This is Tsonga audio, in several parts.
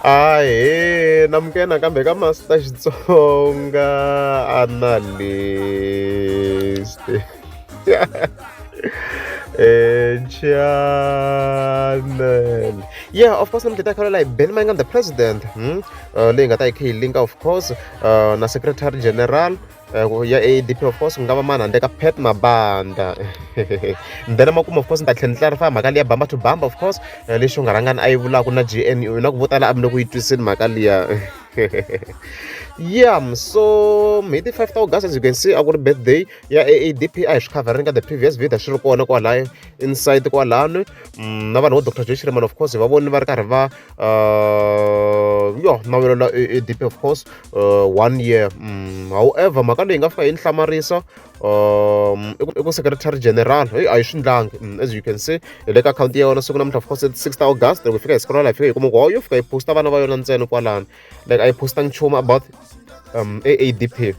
ahe namukela nakambe ka master xitsonga analyst eh, channel yeah of course namhleta khala like ben mangan the president hmm? uh, leyi nga ta yi khe yi linka of course uh, na secretary general uh, ya adp of course ku nga va mani handle ka pet mabanda then emakumu of course ni ta tlhela ni clarify mhaka liya bamba to bamba of course uh, lexi u nga rhangani a yi vulaka na gnu na ku vo tala a mi le ku yi twisini mhaka liya yeah so hi ti 5 ta august as you can see a ku ri birthday ya aadp a hi swi covering ka the previous video swi ri kona kwala inside kwalano mm, na vanhu vo dr joe shirman of course hi va voni va ri karhi va uh, yo nawelela aadp of course uh, one year mm, however mhaka leyi nga fika yi ni hlamarisa um i ku secretary general hey, a yi swi ndlangi mm, as you can see hi le ka akhawunti ya yona siku namuntlha of course six august loko yi fika hi siku ra laha yi fika yi kuma ku yo fika yi posta vana va yona ntsena kwalano like a yi postanga nchumu about um aadp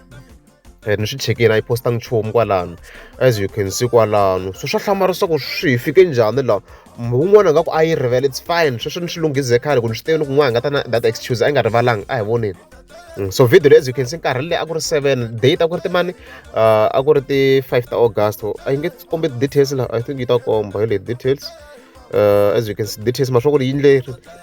eh, ni swi chekini a yi postanga nchumu kwalano as you can see kwalano so swa hlamala leswaku swi hi fike njhani laha un'wana nga ku a yi rivele it's fine sweswo ni swi lunghise khale ku ni swi tivi ni ku n'wana nga ta na that excuse a yi nga rivalanga a hi voneni mm, so video leyi as you can see nkarhi leyi a ku ri seven date a ku ri timani uh, a ku ri ti-five ta august a yi nge kombe details laha i think yi ta komba hi le details uh, as you can see details ma swa ku ri yindle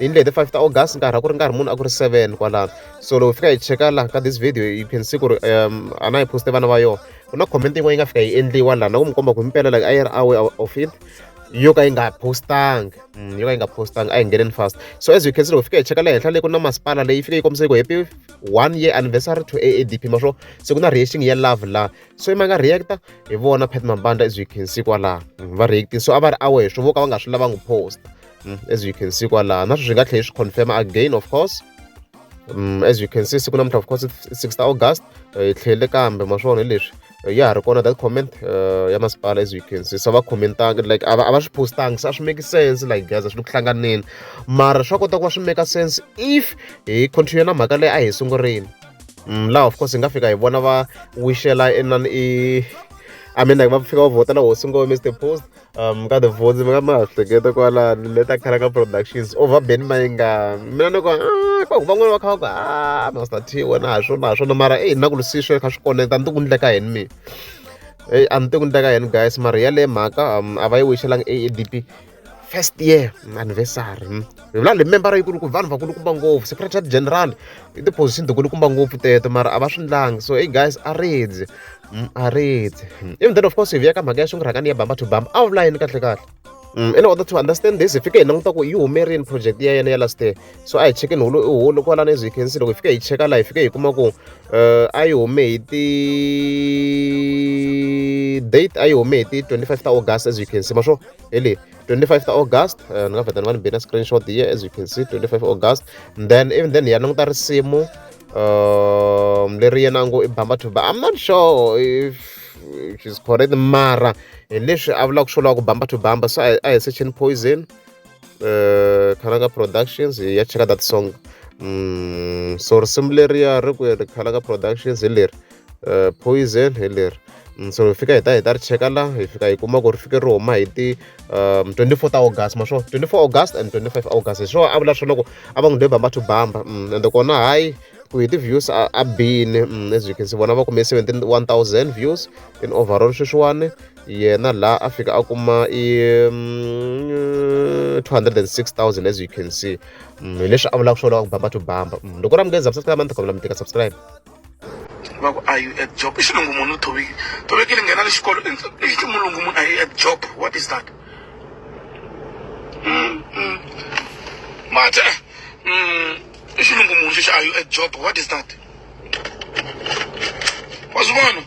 yindle hi the 5 ta august nkarhi a ku ri nkarhi munhu a ku ri 7 kwalano so loko fika hi cheka laha ka this video you can see ku ri um a na hi poste vana va yona ku na comment yin'wana yi nga fika yi endliwa laha na ku mi komba ku mi pela like a yi ri away of it yo ka yi nga postanga mm, yo ka yi nga postanga a yi ngeneni fast so as you can see loko fika hi cheka le henhla leyi ku na masipala leyi fike yi kombisa ku happy one year anniversary to aadp ma swo se ku na reaction ya love la so ima nga reacta hi vona pat mambanda as you can see kwalaha mm, va reacting so a va ri aware swo vo ka va nga swi lavangi post mm, as you can see kwalaha na sweswi hi nga tlhela hi swi confirma again of course um, as you can see siku namuntlha of course 6 ta august eh, hi tlhele kambe ma swona hi leswi eh, ya ha ri kona that comment uh, ya masipala as you can see so va commentanga like a va swi postanga se a swi make sense like guys a swi le ku hlanganeni mara swa kota ku va swi make sense if hi continue na mhaka leyi a hi sungurile mm, laha of course hi nga fika hi vona va wishela inani i I mean like va fika va vhotela hosi ngo Mr Post um ka the votes mi nga ma hleketa kwala leta khala ka productions over Ben Mainga mina ni ko ah ko van'wana va kha va ku ah Master T wena ha swona ha swona mara eh na ku lisiswe kha swi konekta ni ti ku ndleka yini mi eh a ni ti ku ndleka yini guys mara yale mhaka um a va yi wixelanga AADP first year anniversary hmm? hi vula lemembara yikulu ku vanhu vakulukumba ngopfu secretary general i ti-position tikulukumba ngopfu teto mara a va swi ndlangi so hey guys a redzi hmm, a redzi hmm. even then of course hi vuya ka mhaka ya xingurhakani ya bamba to bamba a wu vula yini kahle kahle Mm, in order to understand this hi fike hi languta ku yi humerini project ya yena ya last year so a hi chekeni hulu i hulu kwala na hi khensi loko hi fike hi cheka laha hi fike hi kuma ku eh, a yi hume hi ti date a yi hume hi ti 25 ta august as you can see ma swo really 25th august uh, ni nga vheta ni va ni bina screenshot here as you can see 25 august and then even then ya languta risimu um leri yena ngo i bamba to i'm not sure if she's correct mara hi leswi a vulaka swo lava ku bamba to bamba so a hi searching poison uh, khalanga productions hi ya cheka that song um so risimu leriya ri ku ri khalanga productions hi leri eh, poison hi leri mm, so hi fika hi ta hi ta ri cheka la hi fika hi kuma ku ri fike ri huma hi ti um 24 ta august ma swona 24 august and 25 august hi swona a vula swona ku a va n'wi dweba va to bamba mm, ende kona hayi ku hi ti-views a a bini mm, as you can see vona va kume 71000 views in overall sweswiwani yena la a fika a kuma i mm, 206000 as you can see mm, hi leswi a vulaka swona wa ku bamba to bamba Mm, loko ra mi nge subscribe a ni ta kombela mi tika subscribe va ku are you at job i xilungu munhu u thovekile thovekile nghena le xikolo i ximulungu munhu are you at job what is that mm, mm. mate mm, i xilungu munhu xexi are you at job what is that wa swi vona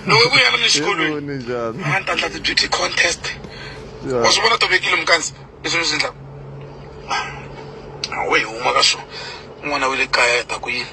loko ku ya ni xikolweni a ni ta endla ti-beauty contest wa swi vona tovekile mukandzi leswi ni swi endlaka awe hi huma ka swona n'wana wa le kaya hi ta ku yini